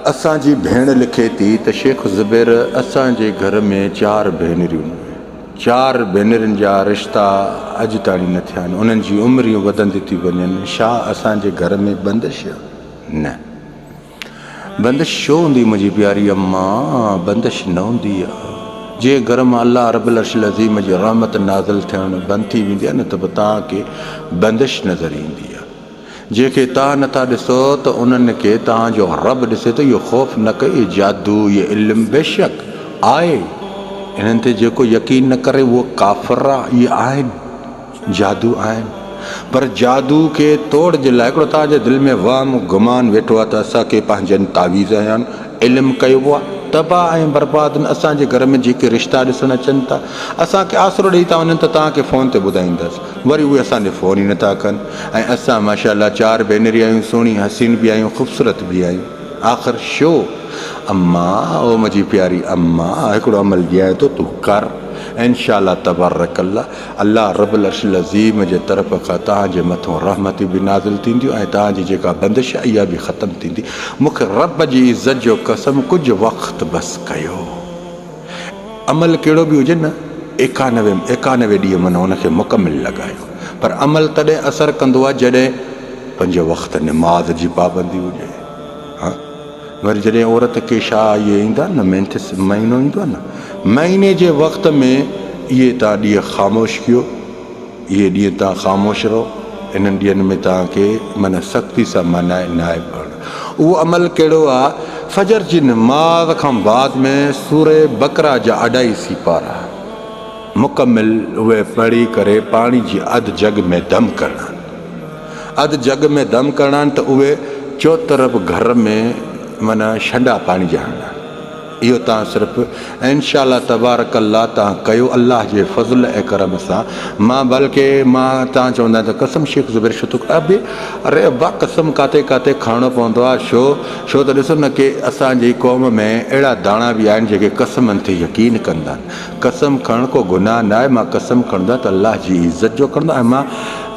اسان جي ڀيڻ لکي ٿي ته شيخ زبير اسان جي گهر ۾ چار ڀينريون چار ڀينرين جا رشتا اڄ تاڻي نه ٿيا آهن انهن جي عمريون وڌندي ٿي وڃن شا اسان جي گهر ۾ بندش نه بندش ڇو هوندي منهنجي پياري اما بندش نه هوندي جنهن گهر مان الله رب العرش العظيم جي رحمت نازل ٿيڻ بند ٿي ويندي آهي نه ته به توهان کي بندش نظر ايندي جنهن کي توهان نه ٿا ڏسو ته انهن کي توهان جو رب ڏسي ٿو اهو خوف نه ڪيو جادو يا علم بيشڪ آهي انهن تي جيڪو يقين نه ڪري اهو ڪافر ئي آهن جادو آهن پر جادو کي توڙ جي لاء هڪڙو توهان جي دل ۾ وهم گمان ويٺو آهي ته اسان کي پنهنجن تعويذ يا علم ڪيو ويو آهي تباهه ۽ برباد نه اسان جي گهر ۾ جيڪي رشتا ڏسڻ اچن ٿا اسان کي آسرو ڏئي ٿا وڃن ته توهان کي فون تي ٻڌائيندس وري اهي اسان ڏي فون ئي نٿا ڪن ۽ اسان ماشاء الله چار ڀينري آهيون سهڻي حسين به آهيون خوبصورت به آهيون آخر شو اما او مجي پياري اما هڪڙو عمل ڏيانء ٿو تون ڪر انشاء الله تبارڪ الله الله رب العرش العظيم جي طرف کان توهان جي مٿون رحمتون به نازل ٿينديون ۽ توهان جي جيڪا بندش آهي اها به ختم ٿيندي مونکي رب جي عزت جو قسم ڪجهه وقت بس ڪيو عمل ڪهڙو به هجي نه ايڪانوي ايڪانوي ڏينهن من ان کي مڪمل لڳايو پر عمل تڏهن اثر ڪندو آهي جڏهن پنج وقت نماز جي پابندي هجي ها وري جڏهن عورت کي شا اهي ايندا نه مينٿس مهينو ايندو آهي نه مهيني جي وقت ۾ اهي تان ڏينهن خاموش ڪيو اهي ڏينهن توهان خاموش رهو، انهن ڏينهن ۾ توهان کي من سختي سان مانائي ناهي پڙهڻ. اهو عمل ڪهڙو آ؟ فجر جي نماز کان بعد ۾ سورة بقرة جا اڍائي سيپارا مڪمل اهي پڙهي ڪري پاڻي جي اڌ جڳ ۾ دم ڪرڻا آهن. اڌ جڳ ۾ دم ڪرڻا آهن ته اهي چوطرف گهر ۾ من شنڊا پاڻي جا هڻڻا آهن. اهو تان صرف ان شاء الله تبارڪ الله تان ڪيو الله جي فضل ۽ ڪرم سان مان بلڪه مان تان چوندا آهن ته قسم شيخ زبير شتوڪ ابي اري ابا قسم ڪاٿي ڪاٿي کڻڻو پوندو آهي شو شو ته ڏسو نه ڪي اسان جي قوم ۾ اهڙا داڻا به آهن جيڪي قسمن تي يقين ڪندا آهن قسم کڻڻ ڪو گناھ ناھي مان قسم کڻندو آھيان ته الله جي عزت جو کڻندو آھيان مان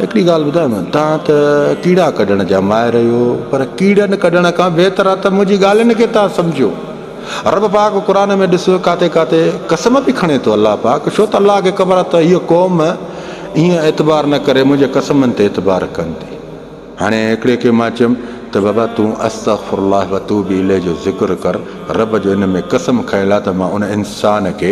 ھڪڙي ڳالھ ٻڌايم توھان ته ڪيڙا ڪڍڻ جا ماھر اھيو پر ڪيڙن ڪڍڻ کان بھتر آھي ته منھنجي ڳالھين کي توھان سمجھو رب پاڪ قرآن ۾ ڏسو ڪاٿي ڪاٿي قسم به کڻي ٿو الله پاڪ ڇو ته الله کي خبر آھي ته ھيء قوم ائين اعتبار نه ڪري منھنجي قسمن تي اعتبار ڪندي. هاڻي هڪڙي کي مان چيم ته بابا تون استغفر الله وتوب اليه جو ذڪر ڪر، رب جو ان ۾ قسم کيل آهي ته مان ان انسان کي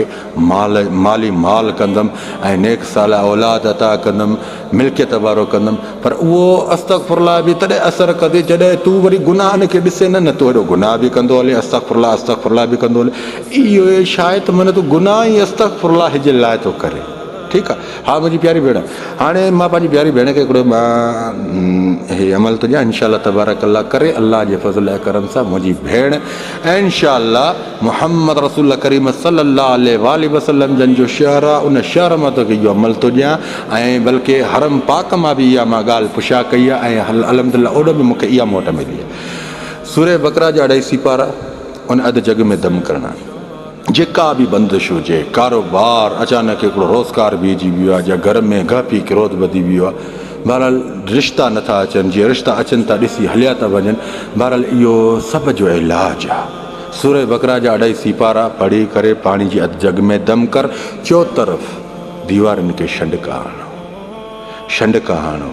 مال مالي مال ڪندم ۽ نيڪ صالح اولاد عطا ڪندم، ملڪيت وارو ڪندم، پر اهو استغفر الله به تڏهن اثر ڪندي جڏهن تون وري گناهن کي ڏسين نه، نه تون هيڏو گناهه به ڪندو هلين استغفر الله استغفر الله به ڪندو هلين اهو شايد منت گناهه ئي استغفر الله جي لاء ٿو ڪرين. ٺيڪ آ ھا منھنجي پياري ڀيڻ ھاڻي مان پنھنجي پياري ڀيڻ کي ھڪڙو مان ھي عمل ٿو ڏيان انشاء الله تبارڪ الله ڪري الله جي فضل ۽ ڪرم سان منھنجي ڀيڻ انشاء الله محمد رسول الله ڪريم صلي الله عليه واٰله وسلم جن جو شھر آ ان شھر مان توکي اھو عمل ٿو ڏيان ۽ بلڪ حرم پاڪ مان به اھا مان ڳالھ پڇا ڪئي آ ۽ الحمد الله اوڏ ۾ مونکي اھا موٽ ملي آ سورة بقرة جا اڍائي سيپارا ان اڌ جڳ ۾ دم ڪرڻا. جيڪا به بندش هجي، ڪاروبار، اچانڪ هڪڙو روزگار بيهجي ويو آهي يا گهر ۾ گهپي ڪروڌ وڌي ويو آهي، بهرحال رشتا نٿا اچن، جي رشتا اچن ٿا ڏسي هليا ٿا وڃن، بهرحال اهو سڀ جو علاج آهي سورة بقرة جا اڍائي سيپارا پڙهي ڪري پاڻي جي اڌ جڳ ۾ دم ڪر چوطرف ديوارن کي شنڊڪا هڻو شنڊڪا هڻو.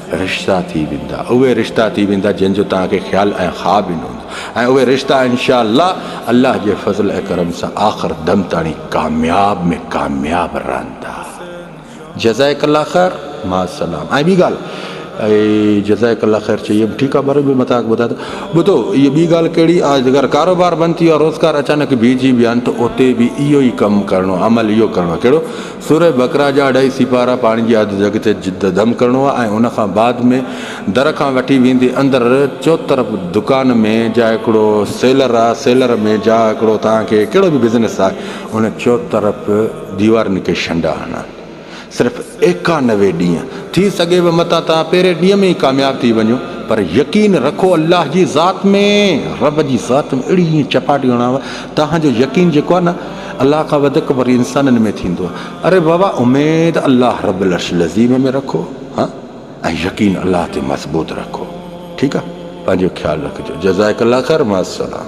رشتا ٿي ويندا اهي رشتا ٿي ويندا جن جو توهان کي خيال ۽ خواب به نه هوندو ۽ اهي رشتا انشاء الله الله جي فضل ۽ ڪرم سان آخر دم تاڻي ڪامياب ۾ ڪامياب رهندا جزائڪ الله خير مع السلام ۽ ٻي ڳالهه جزائڪ الله خير چئي ويم ٺيڪ آهي وري به مٿان ٻڌا ته ٻڌو هي ٻي ڳالهه ڪهڙي اگر ڪاروبار بند ٿي ويو روزگار اچانڪ بيهجي ويا آهن ته اتي به اهو ئي ڪم ڪرڻو عمل اهو ڪرڻو ڪهڙو سورة بقرة جا اڍائي سيپارا پاڻي جي اڌ جڳ تي جد دم ڪرڻو آهي ۽ ان کان بعد ۾ در کان وٺي ويندي اندر چوطرف دڪان ۾ جا هڪڙو سيلر آهي سيلر ۾ جا هڪڙو توهان کي ڪهڙو به بزنس آهي ان چوطرف ديوارن کي شنڊا هڻڻ صرف ايڪانوي ڏينهن ٿي سگهي به متان توهان پهرين ڏينهن ۾ ئي ڪامياب ٿي وڃو پر يقين رکو الله جي ذات ۾ رب جي ذات ۾ اهڙي ائين چپاٽي هڻاوان توهان جو يقين جيڪو آهي نه الله کان وڌيڪ وري انسانن ۾ ٿيندو اري واھ واھ اميد الله رب العرش العظيم ۾ رکو ها ۽ يقين الله تي مضبوط رکو ٺيڪ آ پنهنجو خيال رکجو جزائڪ الله خير مع السلام.